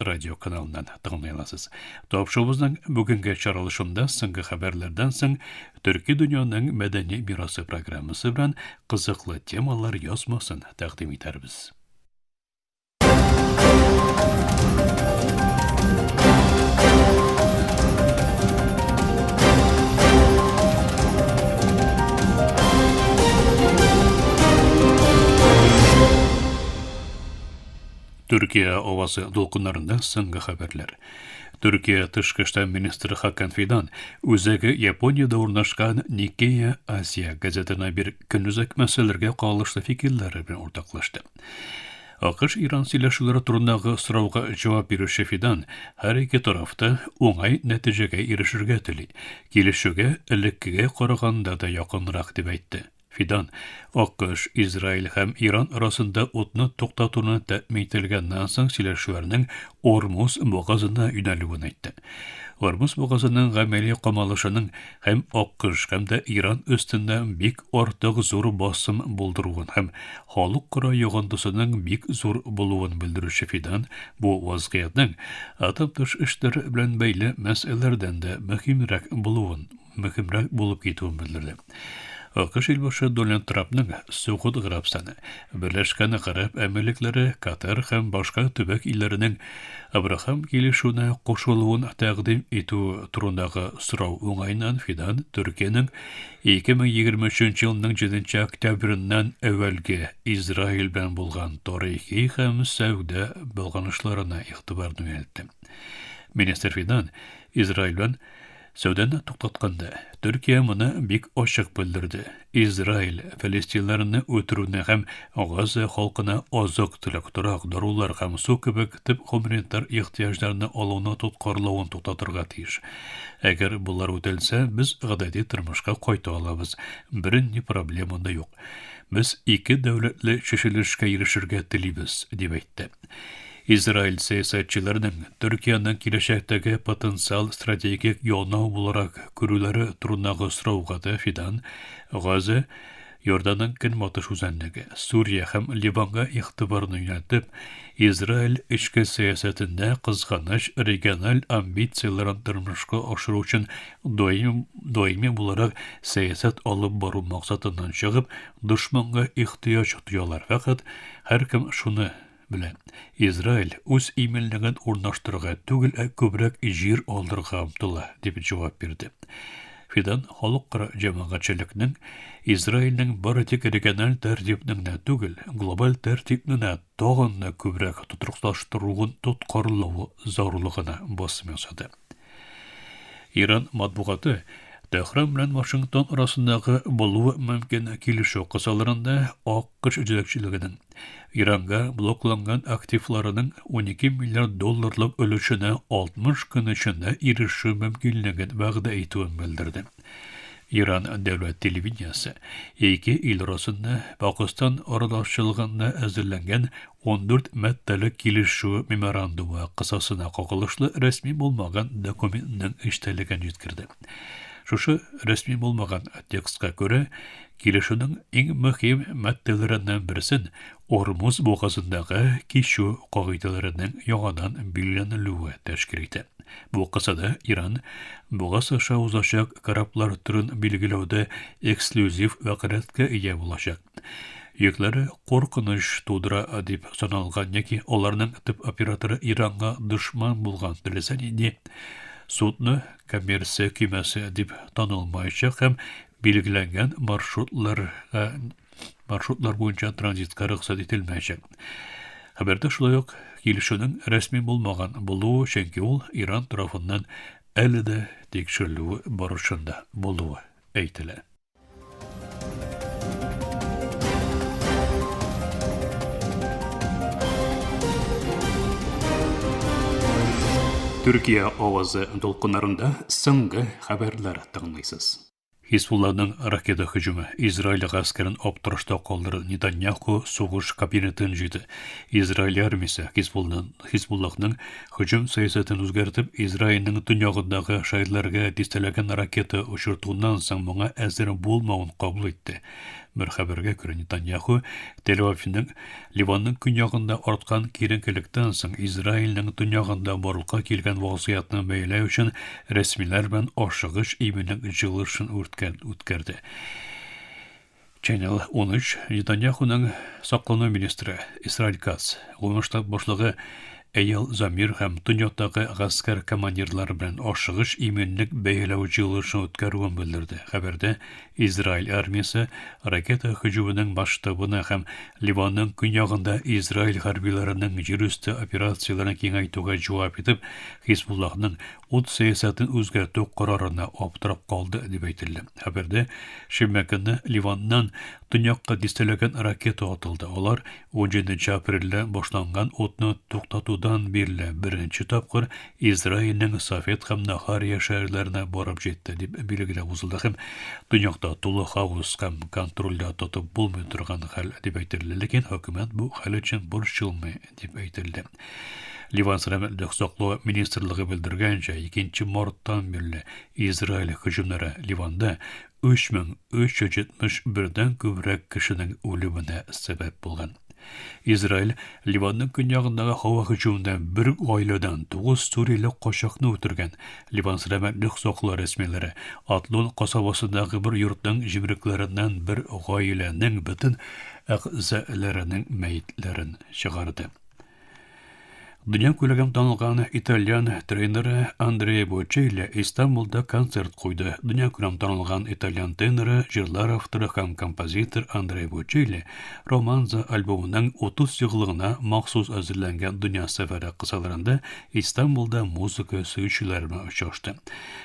радио каналыннан тыңлый аласыз. Тапшуыбызның бүгенге чаралышында соңгы хәбәрләрдән соң Төрки дөньяның мәдәни мирасы программасы белән кызыклы темалар язмасын тәкъдим итәрбез. Төркия авазы дулкыннарында соңгы хәбәрләр. Төркия тышкы эшләр министры Хакан Фидан үзәге Япониядә урнашкан Никея Азия газетына бир көнүзәк мәсьәләргә кагылышлы фикерләре белән уртаклашты. АКШ Иран сөйләшүләре турындагы сорауга җавап бирүче Фидан һәр ике тарафта уңай нәтиҗәгә ирешергә тели, килешүгә элеккегә караганда да якынрак дип әйтте. Фидан, Акыш, Израиль һәм Иран арасында утны туктатуны тәэмин ителгәннән соң сөйләшүләрнең Ормуз бугазына юнәлүен әйтте. Ормуз бугазының гамәли камалышының һәм Акыш һәм дә Иран өстендә бик артык зур басым булдыруын һәм халык кора йогындысының бик зур булуын белдерүче Фидан бу вазгыятьнең атом тыш эшләр белән бәйле мәсьәләләрдән дә мөһимрәк булуын мөһимрәк булып китүен белдерде. АКШ илбашы Дональд Трампның Согуд Гарәбстаны, Берләшкән Гарәп Әмирлекләре, Катар һәм башка төбәк илләренең Абрахам килешүенә кушылуын тәкъдим итү турындагы сорау уңаеннан Фидан Төркиянең 2023 елның 7 октябреннән әүвәлге Израиль белән булган тарихи һәм сәүдә багланышларына игътибарны юнәлтте. Министр Фидан Израиль белән Сүдән туктатканда, Төркия моны бик ачык белдерде, Израиль фәлестинларны үтерүне һәм Газа халкына азык-төлек, торак, дарулар һәм су кебек төп гуманитар ихтыяҗларны алуны тоткарлавын туктатырга тиеш. Әгәр болар үтәлсә, без гадәти тормышка кайта алабыз, бернинди проблема да юк. Без ике дәүләтле чишелешкә ирешергә телибез, дип әйтте. Израиль сәясәтчеләренең Төркияне киләчәктәге потенциаль стратегик янау буларак күрүләре турындагы сорауга да Фидан, Газа, Иорданның көнбатыш үзәнлеге, Сүрия һәм Ливанга игътибарны юнәлтеп, Израиль эчке сәясәтендә, кызганыч, региональ амбицияләрен тормышка ашыру өчен даими, даими буларак сәясәт алып бару максатыннан чыгып, дошманга ихтыяҗ тоялар, фәкать һәркем шуны Менә Израиль үз иминлеген урнаштырырга түгел, ә күбрәк җир алырга омтыла, дип җавап бирде. Фидан халыкара җәмәгатьчелекнең Израильнең бары тик региональ тәртипне генә түгел, глобаль тәртипне дә тагын да күбрәк тотрыклаштыруын тоткарлавы зарурлыгына басым ясады. Иран матбугаты Тәһран белән Вашингтон арасындагы булуы мөмкин килешү кысаларында АКШ җитәкчелегенең Иранга блокланган активларының 12 миллиард долларлык өлешенә 60 көн эчендә ирешү мөмкинлеген вәгъдә итүен белдерде. Иран дәүләт телевидениесе ике ил арасында Пакистан аралашчылыгында әзерләнгән 14 маддәле килешү меморандумы кысасына кагылышлы рәсми булмаган документның эчтәлеген җиткерде. Шушы рәсми булмаган текстка күрә, килешүнең иң мөһим маддәләреннән берсен Ормуз бугазындагы кичү кагыйдәләренең яңадан билгеләнелүе тәшкил итә. Бу кысада Иран бугаз аша узачак кораблар төрен билгеләүдә эксклюзив вәкаләткә ия булачак. Йөкләре куркыныч тудыра дип саналган яки аларның төп операторы Иранга дошман булган теләсә нинди судны коммерция көймәсе дип танылмаячак һәм билгеләнгән маршрутларга маршрутлар буенча транзитка рөхсәт ителмәячәк. Хәбәрдә шулай ук килешүнең рәсми булмаган булуы, чөнки ул Иран тарафыннан әле дә тикшерелү барышында булуы әйтелә. Төркия авазы дулкыннарында соңгы хәбәрләр тыңлыйсыз. Хисбулланың ракета һөҗүме Израиль гаскәрен аптырашта калдырды. Нетаньяху сугыш кабинетын җыйды. Израиль армиясе Хисбулланың Һөҗүм сәясәтен үзгәртеп, Израильнең төньягындагы шәһәрләргә дистәләгән ракета очыртуыннан соң моңа әзер булмавын кабул итте. Бер хәбәргә күрә, Нетаньяху Тель-Авивның Ливанның көньягында арткан киеренкелектән соң Израильнең төньягында барлыкка килгән вазгыятьне бәяләү өчен рәсмиләр белән ашыгыч июньнең җылы эшен үткәрде. Channel 13, Нетаньяхуның саклану министры Исраиль Кац, Гомум штаб башлыгы Эйял Замир һәм Төньяктагы гаскәр командирлары белән ашыгыч иминлек бәяләү җыелышын үткәрүен белдерде. Хәбәрдә Израиль армиясе ракета һөҗүменең масштабына һәм Ливанның көньягында Израиль хәрбиләренең җирүсте операцияләрен киңәйтүгә җавап итеп, Хизбуллахның Ут сәясәтен үзгәртү карарына аптырап калды, дип әйтелде. Хәбәрдә, шимбә көнне Ливаннан төньякка дистәләгән ракета атылды. Алар унҗиденче апрельдә башланган утны туктатудан бирле беренче тапкыр Израильнең Сафед һәм Нахария шәһәрләренә барып җитте, дип билгеләп узылды һәм төньякта тулы хаос һәм контрольдә тотып булмый торган хәл, дип әйтелде. Ләкин хөкүмәт бу хәл өчен борчылмый. дип әйтелде. Ливан сәламәтлек саклау министрлыгы белдергәнчә, 2 марттан бирле Израиль һөҗүмнәре Ливанда 3371-дән күбрәк кешенең үлеменә сәбәп булган. Израиль Ливанның көньягындагы һава һөҗүмендә бер гаиләдән 9 сүриле качакны үтергән. Ливан сәламәтлек саклау рәсмиләре Атлон касабасындагы бер йортның җимрекләреннән бер гаиләнең бөтен әгъзаларының мәетләрен чыгарды. Дөнья күләгем танылган итальян тренеры Андреа Бочелли Истанбулда концерт куйды. Дөнья күләм танылган итальян тренеры, җырлар авторы һәм композитор Андреа Бочелли Романза альбомының 30 еллыгына махсус әзерләнгән дөнья сәфәре кысаларында Истанбулда музыка сөючеләр белән очрашты.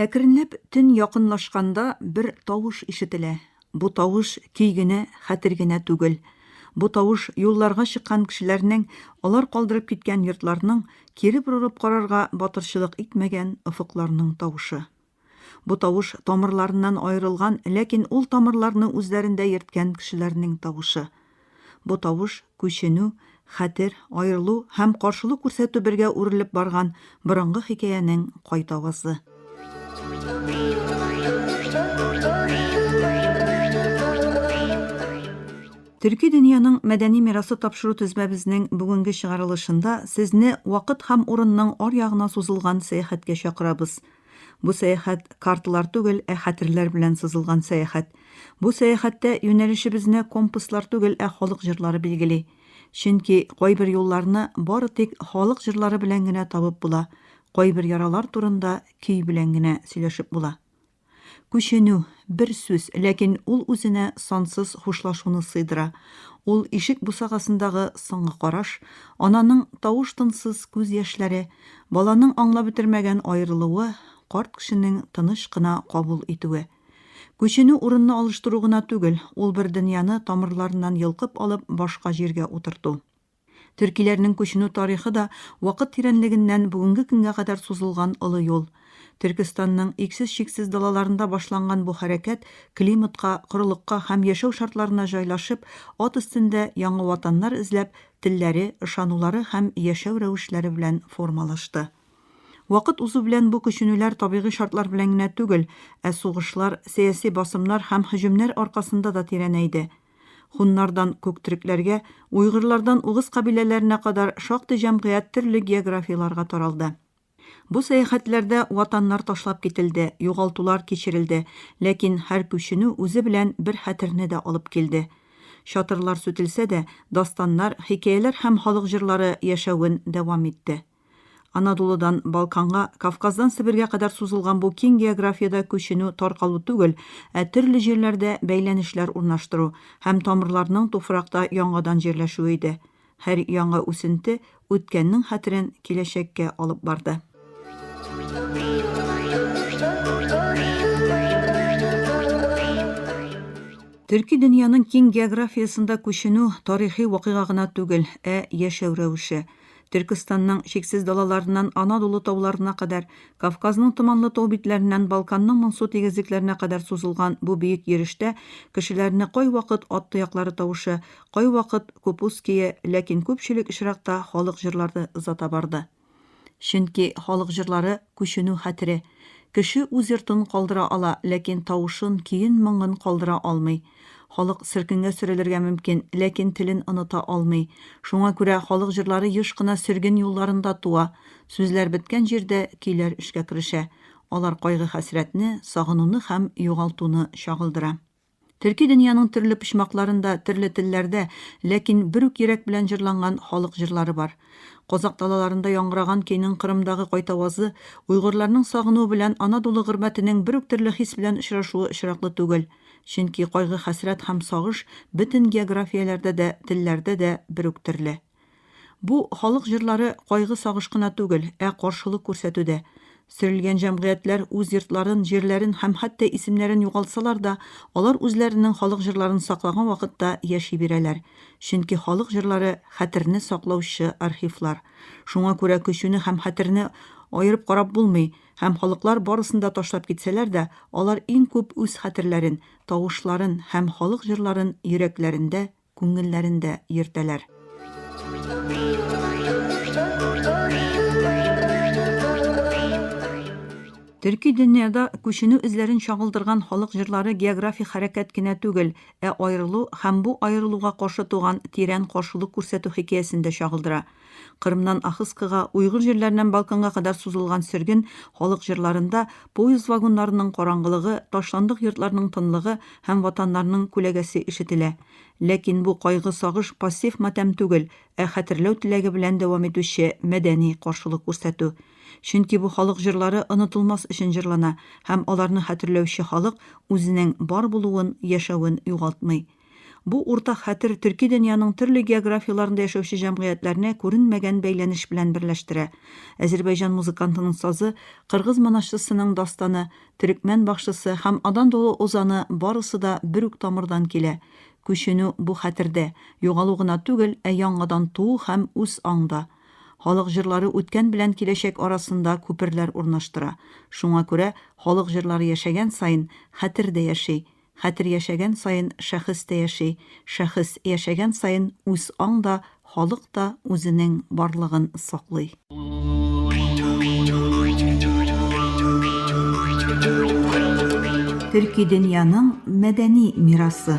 Әкренләп төн якынлашканда бер тавыш ишетелә. Бу тавыш көй генә, хәтер генә түгел. Бу тавыш юлларга чыккан кешеләрнең, алар калдырып киткән йортларның, кире борылып карарга батырчылык итмәгән офыкларның тавышы. Бу тавыш тамырларыннан аерылган, ләкин ул тамырларны үзләрендә йөрткән кешеләрнең тавышы. Бу тавыш, күченү, хәтер, аерылу һәм каршылык күрсәтү бергә үрелеп барган борынгы хикәянең кайт авазы. Төрки дөньяның мәдәни мирасы тапшыру тезмәбезнең бүгенге чыгарылышында сезне вакыт һәм урынның аръягына сузылган сәяхәткә чакырабыз. Бу сәяхәт карталар түгел, ә хәтерләр белән сызылган сәяхәт. Бу сәяхәттә юнәлешебезне компаслар түгел, ә халык җырлары билгели. Чөнки кайбер юлларны бары тик халык җырлары белән генә табып була, кайбер яралар турында көй белән генә сөйләшеп була. Күченү, бер сүз, ләкин ул үзенә сансыз хушлашуны сыйдыра. Ул ишек бусагасындагы соңгы караш, ананың тавыш-тынсыз күз яшьләре, Баланың аңлап бетермәгән аерылуы, карт кешенең тыныч кына кабул итүе. Күченү урынны алыштыру гына түгел, ул бер дөньяны тамырларыннан йолкып алып башка җиргә утырту. Төркиләрнең күченү тарихы да вакыт тирәнлегеннән бүгенге көнгә кадәр сузылган олы юл. Төркестанның иксез-чиксез далаларында башланган бу хәрәкәт климатка, корылыкка һәм яшәү шартларына җайлашып, ат өстендә яңа ватаннар эзләп, телләре, ышанулары һәм яшәү рәвешләре белән формалашты. Вакыт узу белән бу күченүләр табигый шартлар белән генә түгел, ә сугышлар, сәяси басымнар һәм һөҗүмнәр аркасында да тирәнәйде. Хуннардан күктөрекләргә, уйгырлардан угыз кабиләләренә кадәр шактый җәмгыять төрле географияләргә таралды. Бу сәяхәтләрдә ватаннар ташлап кителде, югалтулар кичерелде, ләкин һәр күченү үзе белән бер хәтерне дә алып килде. Чатырлар сүтелсә дә, дастаннар, хикәяләр һәм халык җырлары яшәвен дәвам итте. Анадолудан Балканга, Кавказдан Себергә кадәр сузылган бу киң географиядә күченү таркалу түгел, ә төрле җирләрдә бәйләнешләр урнаштыру һәм тамырларның туфракта яңадан җирләшүе иде. Һәр яңа үсенте үткәннең хәтерен киләчәккә алып барды. Төрки дөньяның киң географиясендә күченү тарихи вакыйга гына түгел, ә яшәү рәвеше. Төркестанның чиксез далаларыннан Анадолу тауларына кадәр, Кавказның томанлы тау битләреннән Балканның моңсу тигезлекләренә кадәр сузылган бу биек йөрештә кешеләрне кайвакыт ат тояклары тавышы, Кайвакыт Купуские, ләкин күпчелек очракта халык җырларды озата барды. Чөнки халык җырлары, күченү хәтере. Кеше үз йортын калдыра ала, ләкин тавышын, көен, моңын калдыра алмый. Халык сөркенгә сөрелергә мөмкин, ләкин телен оныта алмый. Шуңа күрә халык җырлары еш кына сөрген юлларында туа. Сүзләр беткән җирдә көйләр эшкә керешә. Алар кайгы-хәсрәтне, сагынуны һәм югалтуны чагылдыра. Төрки дөньяның төрле почмакларында, төрле телләрдә, ләкин бер үк йөрәк белән җырланган халык җырлары бар. Казакъ далаларында яңгыраган көйнең Кырымдагы кайтавазы, уйгырларның сагынуы белән ана дулы гөрбәтенең бер үк төрле хис белән очрашуы очраклы түгел. Чөнки кайгы-хәсрәт һәм сагыш бөтен географияләрдә дә, телләрдә дә бер үк төрле. Бу халык җырлары кайгы-сагыш кына түгел, ә каршылык күрсәтү дә. Сөрелгән җәмгыятьләр үз йортларын, җирләрен һәм хәтта исемнәрен югалтсалар да, алар үзләренең халык җырларын саклаган вакытта яши бирәләр. Чөнки халык җырлары, хәтерне саклаучы архивлар. Шуңа күрә көчүне һәм хәтерне аерып карап булмый, һәм халыклар барысын да ташлап китсәләр дә, алар иң күп үз хәтерләрен, тавышларын һәм халык җырларын йөрәкләрендә күңелләрендә йөртәләр. Төрки дөньяда күченү эзләрен чагылдырган халык җырлары географик хәрәкәт кенә түгел, ә аерылу һәм бу аерылуга каршы туган тирән каршылык күрсәтү хикәясен дә чагылдыра. Кырымнан Ахыскага, уйгыр җирләреннән Балканга кадәр сузылган сөрген халык җырларында поезд вагоннарының караңгылыгы, ташландык йортларның тынлыгы һәм ватаннарның күләгәсе ишетелә. Ләкин бу кайгы-сагыш пассив матәм түгел, ә хәтерләү теләге белән дәвам итүче мәдәни каршылык күрсәтү. Чөнки бу халык җырлары онытылмас өчен җырлана һәм аларны хәтерләүче халык үзенең бар булуын, яшәвен югалтмый. Бу уртак хәтер төрки дөньяның төрле географияләрендә яшәүче җәмгыятьләрне күренмәгән бәйләнеш белән берләштерә. Әзербәйҗан музыкантының сазы, кыргыз монашчысының дастаны, төрекмән бакчысы һәм Адандоло озаны барысы да бер үк тамырдан килә. Күченү бу хәтердә, югалу гына түгел, ә яңадан туу һәм үз аңда. Халык җырлары үткән белән киләчәк арасында күперләр урнаштыра. Шуңа күрә халык җырлары яшәгән саен, хәтер дә яши. Хәтер яшәгән саен шәхес тә яши, шәхес яшәгән саен үз аң да, халык та үзенең барлыгын саклый. Төрки дөньяның мәдәни мирасы.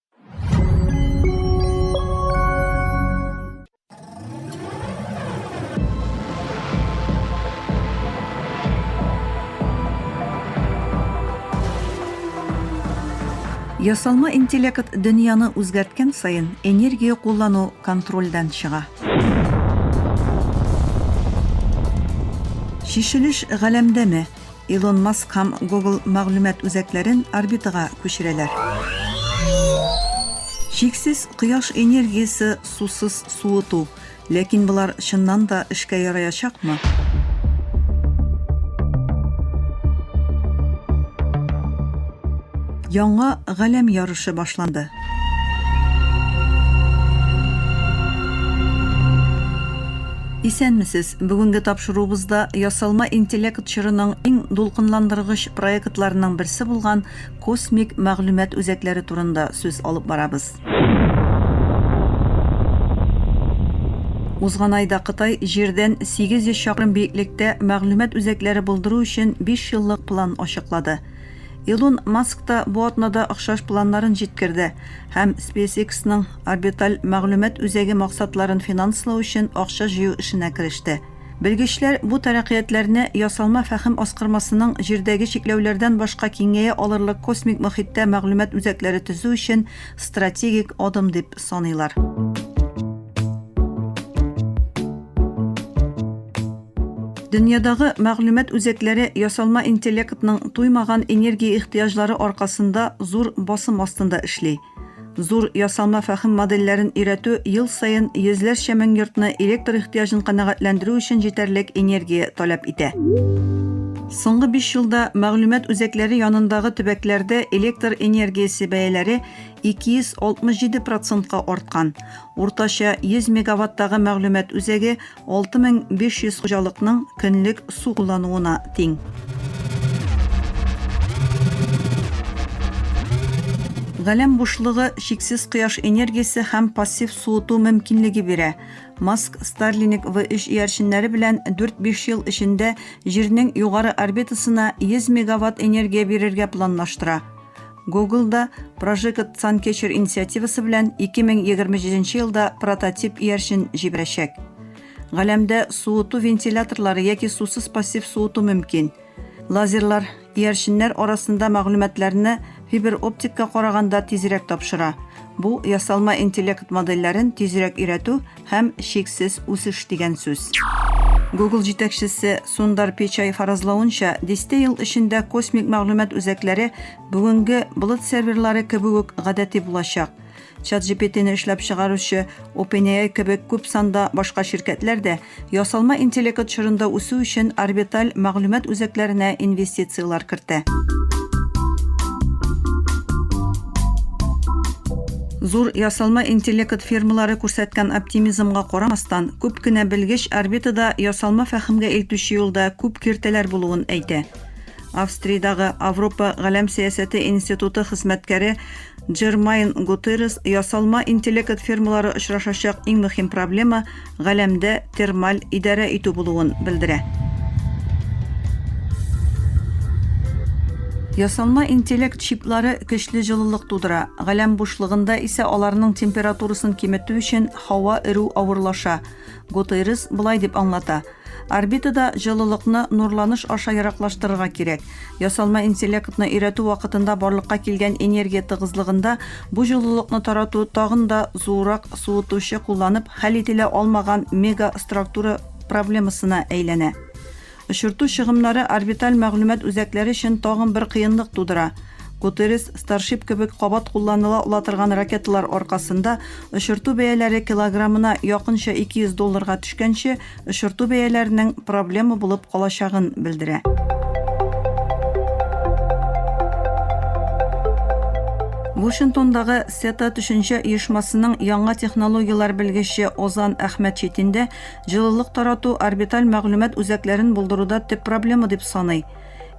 Ясалма интеллект дөньяны үзгәрткән саен энергия куллану контрольдән чыга. Шешелеш галәмдәме? Илон Маск һәм Google мәгълүмат үзәкләрен орбитага күчерәләр. Чиксез кояш энергиясе сусыз суыту. Ләкин болар чыннан да эшкә яраячакмы? Яңа галәм ярышы башланды. Исәнмесез! Бүгенге тапшыруыбызда ясалма интеллект чорының иң дулкынландыргыч проектларының берсе булган космик мәгълүмат үзәкләре турында сүз алып барабыз. Узган айда Кытай Җирдән 800 чакрым биеклектә мәгълүмат үзәкләре булдыру өчен бишьеллык план ачыклады. Илон Маск та бу атнада охшаш планнарын җиткерде һәм SpaceX-ның орбиталь мәгълүмат үзәге максатларын финанслау өчен акча җыю эшенә кереште. Белгечләр бу тәрәкыятьләрне ясалма фәһем аскырмасының җирдәге чикләүләрдән башка киңәя алырлык космик мохиттә мәгълүмат үзәкләре төзү өчен стратегик адым дип саныйлар. Дөньядагы мәгълүмат үзәкләре ясалма интеллектның туймаган энергия ихтыяҗлары аркасында зур басым астында эшли. Зур ясалма фәһем модельләрен өйрәтү ел саен йөзләрчә мең йортны электр ихтыяҗын канәгатьләндерү өчен җитәрлек энергия таләп итә. Соңгы биш елда мәгълүмат үзәкләре янындагы төбәкләрдә электр энергиясе бәяләре 267 процентка арткан. Уртача 100 мегаваттагы мәгълүмат үзәге 6500 хуҗалыкның көнлек су куллануына тиң. Галәм бушлыгы чиксез кояш энергиясе һәм пассив суыту мөмкинлеге бирә. Маск Starlink V3 иярченнәре белән 4-5 ел эчендә Җирнең югары орбитасына 100 мегаватт энергия бирергә планлаштыра. Google да Прожигат Санкечер инициативасы белән 2027 елда прототип иярчен җибәрәчәк. Галәмдә суыту вентиляторлары яки сусыз пассив суыту мөмкин. Лазерлар иярченнәр арасында мәгълүматларны фибер оптикка караганда тизрәк тапшыра. Бу ясалма интеллект модельләрен тизрәк өйрәтү һәм чиксез үсеш дигән сүз. Google җитәкчесе Сундар Печай фаразлавынча, дистә ел эчендә космик мәгълүмат үзәкләре бүгенге болыт серверлары кебек үк гадәти булачак. ChatGPT-ны эшләп чыгаручы OpenAI кебек күп санда башка ширкәтләр дә ясалма интеллект чорында үсү өчен орбиталь мәгълүмат үзәкләренә инвестицияләр кертә. Зур ясалма интеллект фермалары күрсәткән оптимизмга карамастан, күп кенә белгеч орбитада ясалма фәһемгә илтүче юлда күп киртәләр булуын әйтә. Австриядагы Авропа галәм сәясәте институты хезмәткәре Джермайн Гутеррес ясалма интеллект фермалары очрашачак иң мөһим проблема, галәмдә термаль идарә итү булуын белдерә. Ясалма интеллект чиплары көчле җылылык тудыра, галәм бушлыгында исә аларның температурасын киметү өчен һава эрү авырлаша. Гутейрес болай дип аңлата, Орбитада җылылыкны нурланыш аша ераклаштырырга кирәк. Ясалма интеллектны өйрәтү вакытында барлыкка килгән энергия тыгызлыгында бу җылылыкны тарату тагын да зуррак суытучы кулланып хәл ителә алмаган мегаструктура проблемасына әйләнә. Очырту чыгымнары орбиталь мәгълүмат үзәкләре өчен тагын бер кыенлык тудыра. Гутеррес, Старшип кебек кабат кулланыла ала торган ракеталар аркасында очырту бәяләре килограммына якынча 200 долларга төшкәнче, очырту бәяләренең проблема булып калачагын белдерә. Вашингтондагы CETA төшенчә оешмасының яңа технологияләр белгече Озан Әхмәтчетин дә җылылык тарату орбиталь мәгълүмат үзәкләрен булдыруда төп проблема дип саный.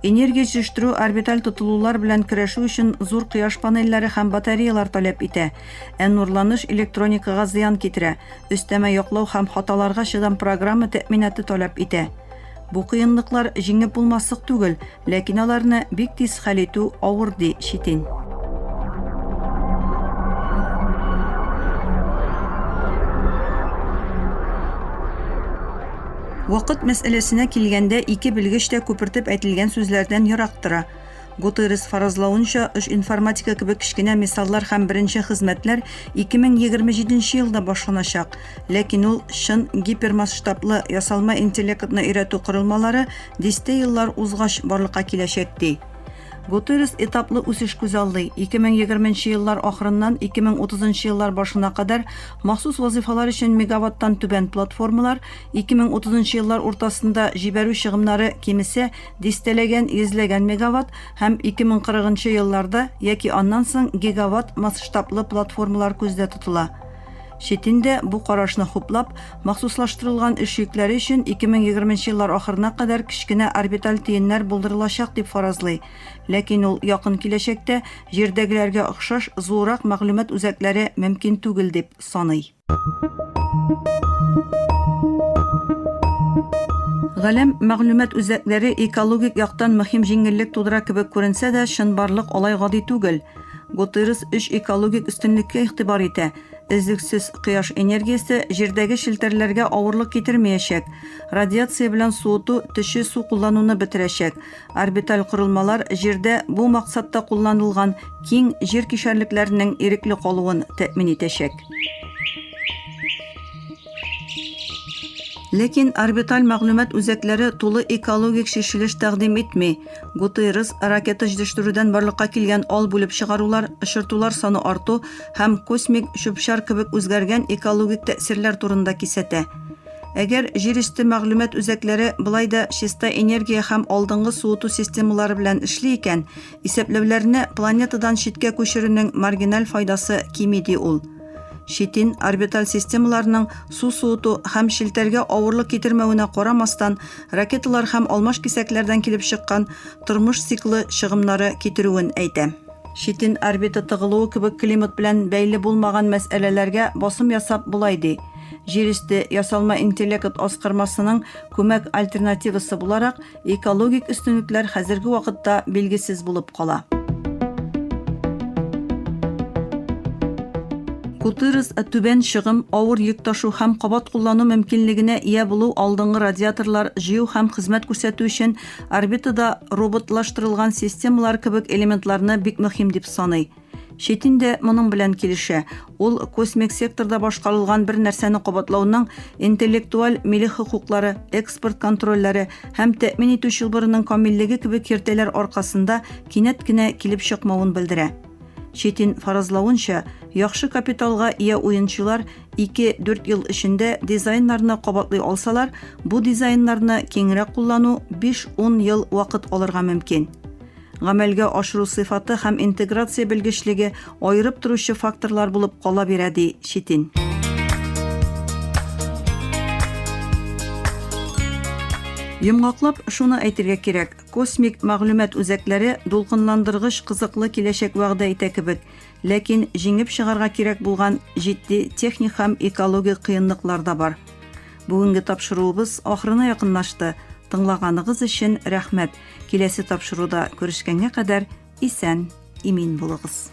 Энергия җитештерү орбиталь тотылулар белән көрәшү өчен зур кояш панельләре һәм батареялар таләп итә. Ә нурланыш электроникага зыян китерә, өстәмә яклау һәм хаталарга чыдам программа тәэминаты таләп итә. Бу кыенлыклар җиңеп булмаслык түгел, ләкин аларны бик тиз хәл итү авыр, ди Щетин. Вакыт мәсьәләсенә килгәндә, ике белгеч тә күпертеп әйтелгән сүзләрдән ерак тора. Гутеррес фаразлавынча, үч информатика кебек кечкенә мисаллар һәм беренче хезмәтләр 2027 елда башланачак, ләкин ул чын гипермасштаблы ясалма интеллектны өйрәтү корылмалары дистә еллар узгач барлыкка киләчәк, ди. Гутеррес этаплы үсеш күзаллый, 2020 еллар ахырыннан 2030 еллар башына кадәр махсус вазыйфалар өчен мегаваттан түбән платформалар, 2030 еллар уртасында җибәрү чыгымнары, кимесә, дистәләгән, йөзләгән мегаватт һәм 2040 елларда яки аннан соң гигаватт масштаблы платформалар күздә тотыла. Чит илдә бу карашны хуплап, махсуслаштырылган эш йөкләре өчен 2020 еллар ахырына кадәр кечкенә орбиталь төеннәр булдырылачак дип фаразлый. Ләкин ул якын киләчәктә Җирдәгеләргә охшаш зуррак мәгълүмат үзәкләре мөмкин түгел дип саный. Галәм мәгълүмат үзәкләре экологик яктан мөһим җиңеллек тудыра кебек күренсә дә, чынбарлык алай гади түгел. Гутыйрес өч экологик өстенлеккә игътибар итә, өзлексез кояш энергиясе Җирдәге челтәрләргә авырлык китермәячәк, радиация белән суыту төче су куллануны бетерәчәк, Орбиталь корылмалар Җирдә бу максатта кулланылган киң җир кишәрлекләренең ирекле калуын тәэмин итәчәк. Ләкин орбиталь мәгълүмат үзәкләре тулы экологик чишелеш тәкъдим итми. Гутеррес ракета җитештерүдән барлыкка килгән ал бүлеп чыгарулар, очыртулар саны арту һәм космик чүп-чар кебек үзгәргән экологик тәэсирләр турында кисәтә. Әгәр җир өсте мәгълүмат үзәкләре болай да чиста энергия һәм алдынгы суыту системалары белән эшли икән, исәпләүләрне планетадан читкә күчерүнең маргиналь файдасы кими, ди ул. Щитин орбиталь системаларның су суыту һәм челтәргә авырлык китермәвенә карамастан, ракеталар һәм алмаш кисәкләрдән килеп чыккан тормыш циклы чыгымнары китерүен әйтә. Читен орбита тыгылуы кебек климат белән бәйле булмаган мәсьәләләргә басым ясап болай ди, Җир өсте ясалма интеллект аскырмасының күмәк альтернативасы буларак, экологик өстенлекләр хәзерге вакытта билгесез булып кала. Гутырес түбән чыгым, авыр йөк ташу һәм кабат куллану мөмкинлегенә ия булу алдынгы радиаторлар җыю һәм хезмәт күрсәтү өчен Орбитада роботлаштырылган системалар кебек элементларны бик мөһим дип саный. Читин дә моның белән килешә. Ул космик секторда башкарылган бер нәрсәне кабатлауның интеллектуаль милек хокуклары, экспорт контрольләре һәм тәэмин итү чылбырының камиллеге кебек киртәләр аркасында кинәт кенә килеп чыкмавын белдерә. Четин фаразлавынча, яхшы капиталга ия уенчылар 2-4 ел эчендә дизайннарны кабатлый алсалар, бу дизайннарны киңрәк куллану 5-10 ел вакыт алырга мөмкин. Гамәлгә ашыру сыйфаты һәм интеграция белгечлеге аерып торучы факторлар булып кала бирә, ди Четин. Йомгаклап, шуны әйтергә кирәк, Космик мәгълүмат үзәкләре дулкынландыргыч кызыклы киләчәк вәгъдә итә кебек, ләкин җиңеп чыгарга кирәк булган җитди техник һәм экологик кыенлыклар да бар. Бүгенге тапшыруыбыз ахырына якынлашты. Тыңлаганыгыз өчен рәхмәт. Киләсе тапшыруда күрешкәнгә кадәр исән, имин булыгыз.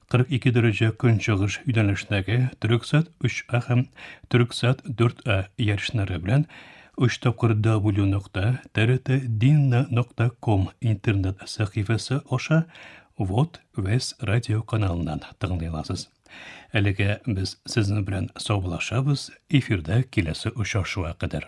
42 дәрәҗә көнчыгыш юнәлешнәге Төрексат 3А һәм Төрексат 4А ярышлары белән 3 тапкыр W нокта TRT Dinna нокта ком интернет сәхифәсе аша Вот Вес радио каналыннан тыңлый аласыз. Әлегә без сезнең белән саубуллашабыз, эфирда киләсе очрашуга кадәр.